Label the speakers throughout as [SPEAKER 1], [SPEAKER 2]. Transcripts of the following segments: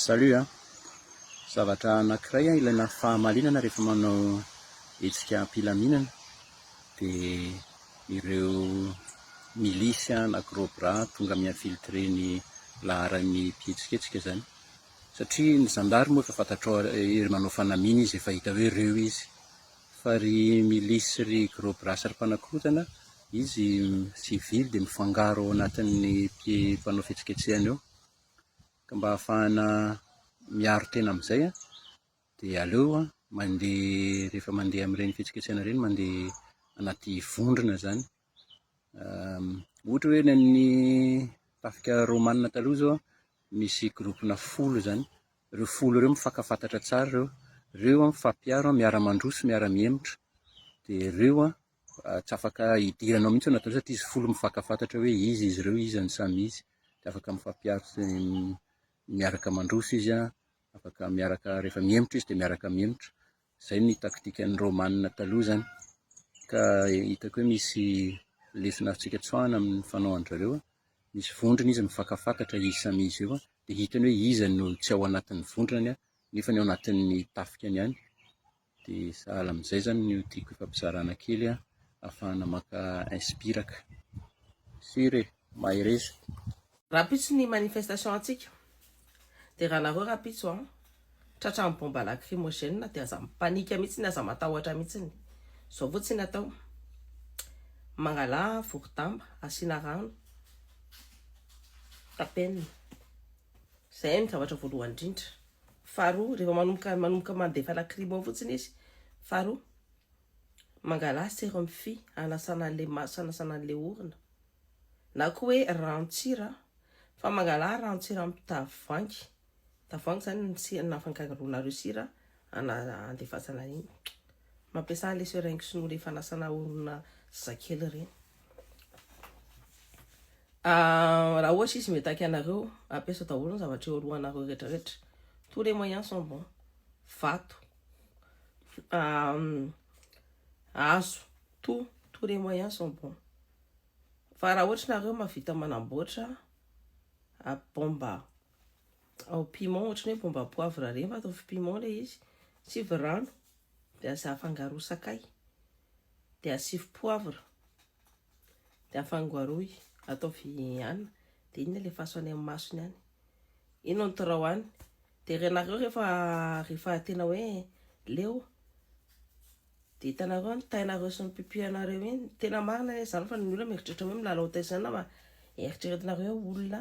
[SPEAKER 1] Salut a! Zavatra anakiray a ilaina fahamalinana rehefa manao hetsika am-pilaminana dia ireo milices na gros bras tonga mi-infiltrer ny laharan'ny mpihetsiketsika izany satria ny zandary moa efa fantatrao ary manao fanamiana izy efa hita hoe ireo izy fa ry milices ry gros bras ry mpanakorontana Izy sivily dia mifangaro ao anatin'ny mpanao fihetsiketsehana eo, ka mba hahafahana miaro tena amin'izay dia aleo mandeha rehefa mandeha amin'ireny fihetsiketsehana ireny mandeha anaty vondrona izany, ohatra hoe ny an'ny tafika romanina taloha izao misy gropona folo izany, ireo folo ireo mifankafatatra tsara ireo, ireo mifampiaro miara-mandroso miara-mihemotra dia ireo Tsy afaka hidiranao mihitsy ianao satria izy folo mifankafatatra hoe iza izy ireo, iza ny samy izy. Dia afaka mifampiaro sy miaraka mandroso izy an, afaka miaraka rehefa mihemotra izy dia miaraka mihemotra. Izay ny taktikan'ny Romanina taloha izany. Ka hitako hoe misy lesona azontsika tsoahina amin'ny fanaovan-dry zareo an, misy vondrona izy mifankafatatra izy samy izy io an, dia hitany hoe iza no tsy ao anatin'ny vondrany nefa ao anatin'ny tafikany ihany. Dia sahala amin'izay izany no tiako hifampizarana kely an, ahafahana maka inspiraka. Sûr e! Mahereza! Rahampitso
[SPEAKER 2] ny manifestation antsika dia raha nareo rahampitso an, tratran'ny bomba lacrymogène dia aza mipanika mihitsiny aza matahotra mihitsiny, zao fotsiny atao, mangala vorodamba asiana rano, tapenina, zay no zavatra voalohany indrindra. Faharoa, rehefa manomboka manomboka mandefa lacrimo fotsiny izy, faharoa, mangala serum fi hanasana an'ilay maso, hanasana an'ilay orona, na koa hoe rantsira, fa mangala rantsira amin'ny tavoahangy, tavoahangy izany ny si- ny afangaronareo sira ana- andefasana an'iny, mampiasa an'ilay seringue sy ny ora efa hanasana orona zazakely ireny. Ah, raha ohatra izy mitaky anareo, ampiasa daholo ny zavatra eo alohanareo rehetrarehetra. Tous les moyens sont bons. Vato. Ah, hazo. Tout, tous les moyens sont bons. Fa raha ohatra nareo mavita manamboatra a bomba au piment, ohatrany hoe bomba poivre ireny, fa ataovy piment ilay izy, tsy virano. Dia aza afangaro sakay. Dia asivy poivre. Dia afangaroy. Ataovy anina. Dia iny alefaso any amin'ny masony any. Iny no antorao any. Dia renareo rehefa, rehefa tena hoe leo. Dia hitanareo ny tainareo sy ny pipianareo iny. Tena marina anie izany fa ny olona mieritreritra hoe milalao tay izany na eritreretinareo hoe olona.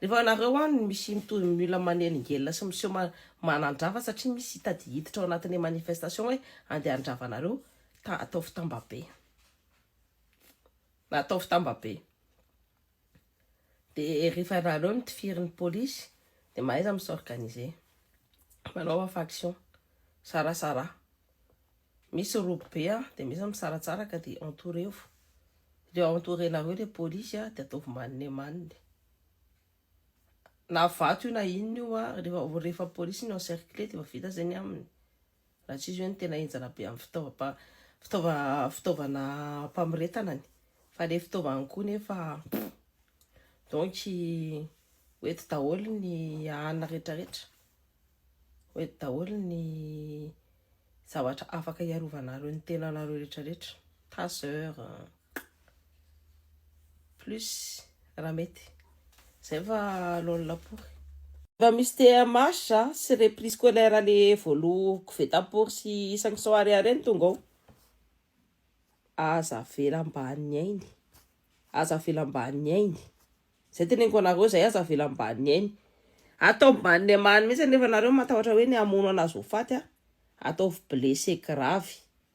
[SPEAKER 2] Rehefa ianareo any misy mitovy ny olona manelingelina sy miseho manandrava satria misy hita dia hiditra ao anatin'ny manifestation hoe andeha handrava anareo ta ataovy tambabe na ataovy tambabe de rehefa ianareo mitifiry ny polisy de mahaiza mi s'organiser manaova faction sarasara Misy robo be an, de misy misaratsara ka de entourez-vous, reo entourez nareo le polisy an de ataovy manne manne, na vato io na inona io an, rehefa rehefa polisy no encercler de efa vita zay ny aminy, raha tsy izy hoe ny tena enjana be am fitaova fitaova fitaovana famoretana ny, fa le fitaovany koa nefa donc ho eto daholo ny an retraretra. Hoety daholo ny zavatra afaka hiarovanareo ny tenanareo rehetrarehetra. Taser, plus raha mety. Zay fa lol lapory. Efa misy TMH sy reprise scolaire le voaloha koveta pory sy isan'ny sao ariary ny tonga ao. Aza avela mba ny ainy. Aza avela mba ny ainy. Zay teneniko anareo zay aza avela ambaniny ainy atao ambaniny amany mihitsy nefa nareo matahotra hoe ny hamono anazy ho faty a ataovy blessé grave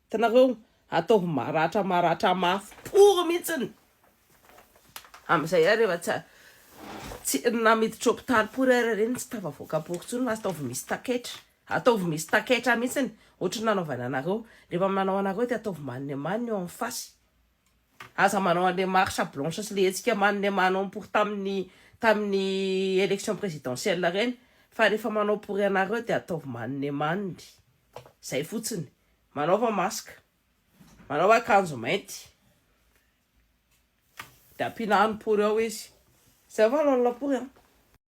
[SPEAKER 2] hitanareo ataovy maratra maratra mafy pory mihitsiny amizay ary efa tsy tsy na miditra hopitaly pory ary ireny tsy tafavoaka pory intsony fa ataovy misy taketra ataovy misy taketra mihitsiny ohatry ny nanaovany anareo rehefa manao anareo dia ataovy maniny amaniny eo amin'ny fasy Aza manao an'ilay marche blanche sy ilay hetsika manome manao pour tamin'ny tamin'ny élection présidentielle ireny fa rehefa manao pour ianareo dia ataovy manome manome. Izay fotsiny. Manaova masque. Manaova akanjo mainty. Dia ampiana any pour ao izy. Izay valon'ny lampory an.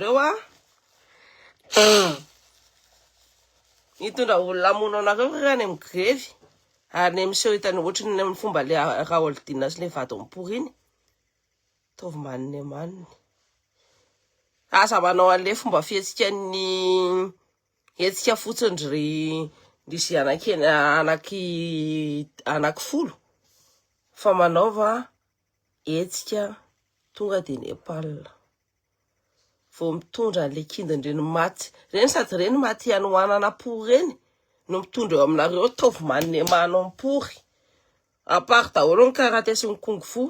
[SPEAKER 2] Reo a. Nitondra olona hamono anareo ry any amin'ny grevy ary ny miseho hitany ohatry ny amin'ny fomba le Raholdina sy le vadiny pory iny. Taovy manina e maniny. Aza manao an'le fomba fihetsikan'ny hetsika fotsiny ry ry ze anakena anaky anaky folo fa manaova Hetsika tonga dia Nepal. Vao mitondra an'ilay kindin'ireny maty ireny sady ireny maty hanohanana pory ireny no mitondra eo aminareo ataovy manemà anao ny pory. À part daholo ny karate sy ny kung fu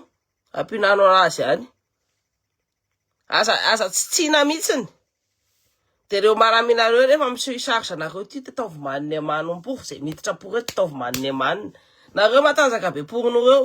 [SPEAKER 2] ampihinanao azy any. Aza, aza tsitsiana mihitsiny. Dia ireo maraminareo rehefa misy charge anareo ity dia ataovy manemà anao ny pory izay miditra pory eto ataovy manemanina. Nareo matanjaka be porin'ireo.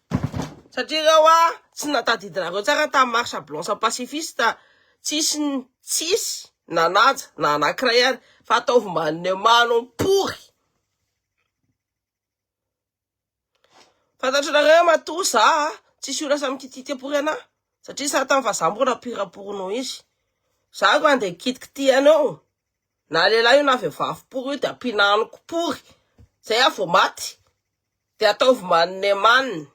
[SPEAKER 2] Satria ireo ah tsy natadidinareo tsara tamin'ny marche blanche pacifiste tsisy tsisy nanaja na anankiray ary fa ataovy manome manompory fantatro nareo matoa za tsisy olona samy kititia pory anah satria sa tany fa za mbola pirapory noho izy za ko andeha kitikitia anao na lehilahy io na vehivavy pory io de ampinaniko pory zay ah vao maty Dia ataovy manome manina.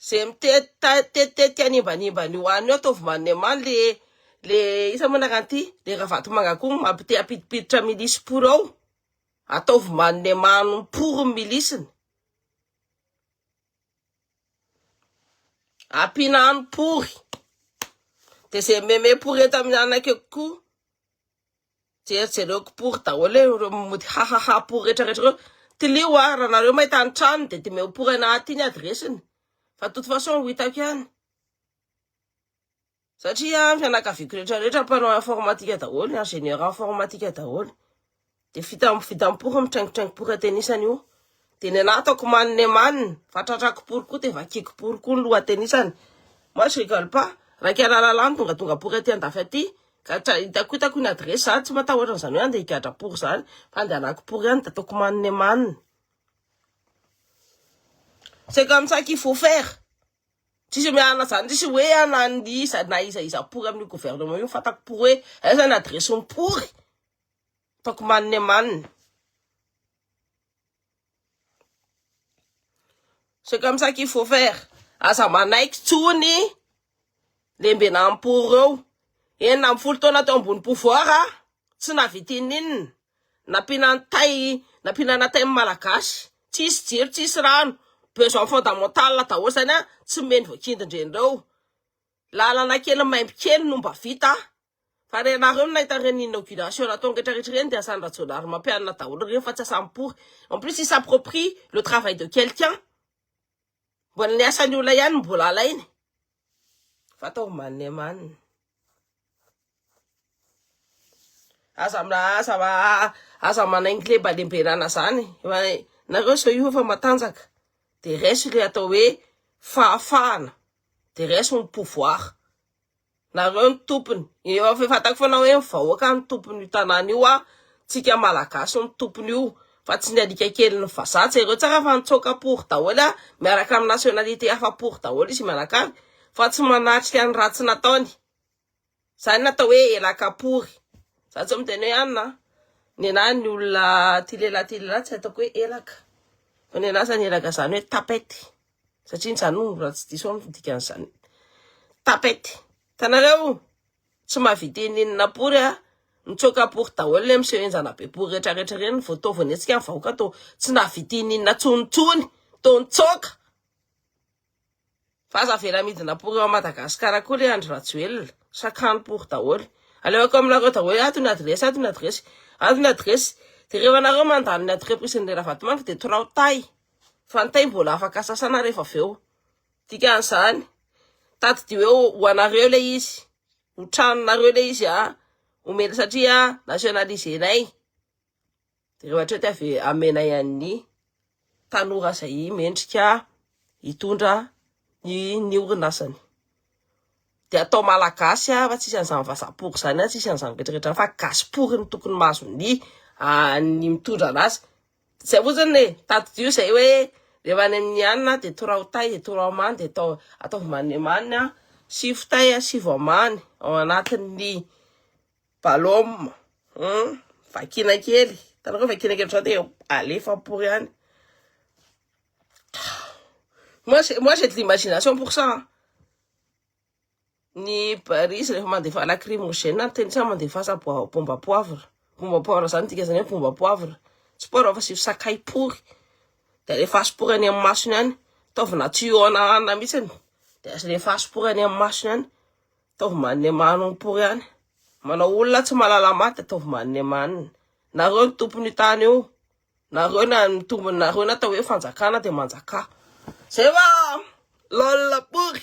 [SPEAKER 2] Zay mitetitetika hanimbanimba an'io hanina io ataovy manome manina le le isa moa nakanty le ravatomanga koa mampite hampidipiditra milisy pory ao. Ataovy manome mano pory ny milisiny. Ampiana hany pory. Dia zay meme pory eto amin'ny anakeko koa Jereo jereo kipory daholo e, ireo mody hahaha pory rehetra rehetra ireo. Tilio a, raha nareo mahita ny tranony dia dimeo pory ana aty ny adiresiny. Fa de toute façon ho hitako ihany. Satria ny fianakaviako rehetra rehetra mpanao informatika daholo, ingénieur informatika daholo. De vita vita am-pory mitraingotraingo pory an-tenisany io. Dia ny anah ataoko man ne man fa tratrako pory koa dia vakiako pory koa ny lohatenisany. Moi je rigole pas. Raika lalala ny tongatonga pory aty andafy aty ka hitako hitako ny adresse za tsy matahotra an'izany hoe handeha higadra pory izany fa andehanako pory ihany dia ataoko man ne man. C'est comme ça qu'il faut faire. Tsisy miala zany tsisy hoe ana ny iza na iza iza pory amin'ny gouvernement io fatako pory hoe aiza ny adresse ny pory. Ataoko man ne man. C'est comme ça qu'il faut faire. Aza manaiky tsony lembenampo reo. Enina amby folo taona teo ambony pouvoir, tsy navitininina, nampinantay, nampinanatay ny malagasy. Tsisy jiro, tsisy rano, besoin fondamental daholo zany an, tsy mino voakindindrenreo. Lalana kely maimbo kely no mba vita Fa ianareo no nahita ireny inauguration nataony rehetra rehetra ireny dia asan'i Rajaonarimampianina daholo ireny fa tsy asan'i Pory. En plus il s'approprie le travail de quelqu'un. Mbola ny asan'ny olona ihany no mbola alainy. Vata ho maninemanina. Aza aza aza manaingy lembalembenana zany. Nareo zao io efa matanjaka. Dia resy le atao hoe fahafahana. Dia resy ny pouvoir. Nareo no tompony, efa fantako foana hoe ny vahoaka no tompon'io tanàna io aho, tsika malagasy no tompon'io fa tsy ny alika kelin'ny vazaha, jereo tsara fa nitsoaka pory daholo aho, miaraka amin'ny nationalité hafa pory daholo izy mianakavy fa tsy manatrika ny ratsy nataony, zany no atao hoe elaka pory, za tsy miteny hoe anona an, nenaha ny olona ty lehilahy ty lehilahy tsy ataoko hoe elaka, fa nenaha zany elaka zany hoe tapette. satria ny Tsanovo raha tsy diso aho no dikan'izany tapette tanareo tsy mahavita eny enina pory a mitsoaka pory daholo le miseho enjana be pory rehetra rehetra ireny vao tao vao nihetsika ny vahoaka to tsy nahavita eny enina tsony tsony to nitsoaka fa aza avela midina pory ao Madagasikara koa le Andry Rajoelina sakano pory daholo alehako aminareo daholo ato ny adiresy ato ny adiresy ato ny adiresy de rehefa nareo mandany ny adrepresin'ny Ravatomanga de torao tay Fantaim bola afaka sasana rehefa avy eo. Dikan'izany, tadidio hoe ho anareo ilay izy, ho tranonareo ilay izy a, omena satria nationaliser-nay. Dia rehefa hatreo dia avy amenay an'ny tanora izay mendrika hitondra ny ny orinasany. Dia atao malagasy ah, fa tsisy an'izany vazaha pory izany ah, tsisy an'izany rehetra rehetra izany fa gasy pory no tokony mahazo ny ah, ny mitondra anazy. Izay fotsiny e, tadidio izay hoe rehefa any amin'ny hanina ah, dia torao tay, dia torao mamy, dia atao ataovy manimaniny ah, sivy tay ah, sivy amany ao anatin'ny balôma, hum, vakiana kely, hitanareo vakiana kely ohatran'izao dia alefa pory any. Moi, moi j'ai de l'imagination pour ça. Hein. Ny Paris rehefa mandefa lacrymogène, ny teny tsy mandefasa bomba poivre. Bomba poivre zany tika zany hoe bomba poivre. Tsy poivre fa sivy sakay pory. Dia rehefa asopory any amin'ny masony any, taovina tuyau anahana mihitsy. Dia rehefa asopory any amin'ny masony any, taovy manne maniny pory any. Manao olona tsy mahalala maty, taovy manne maniny. Nareo ny tompon'io tany io. Nareo na mitombina nareo na atao hoe fanjakana dia manjakà. Zay va? Lol pory.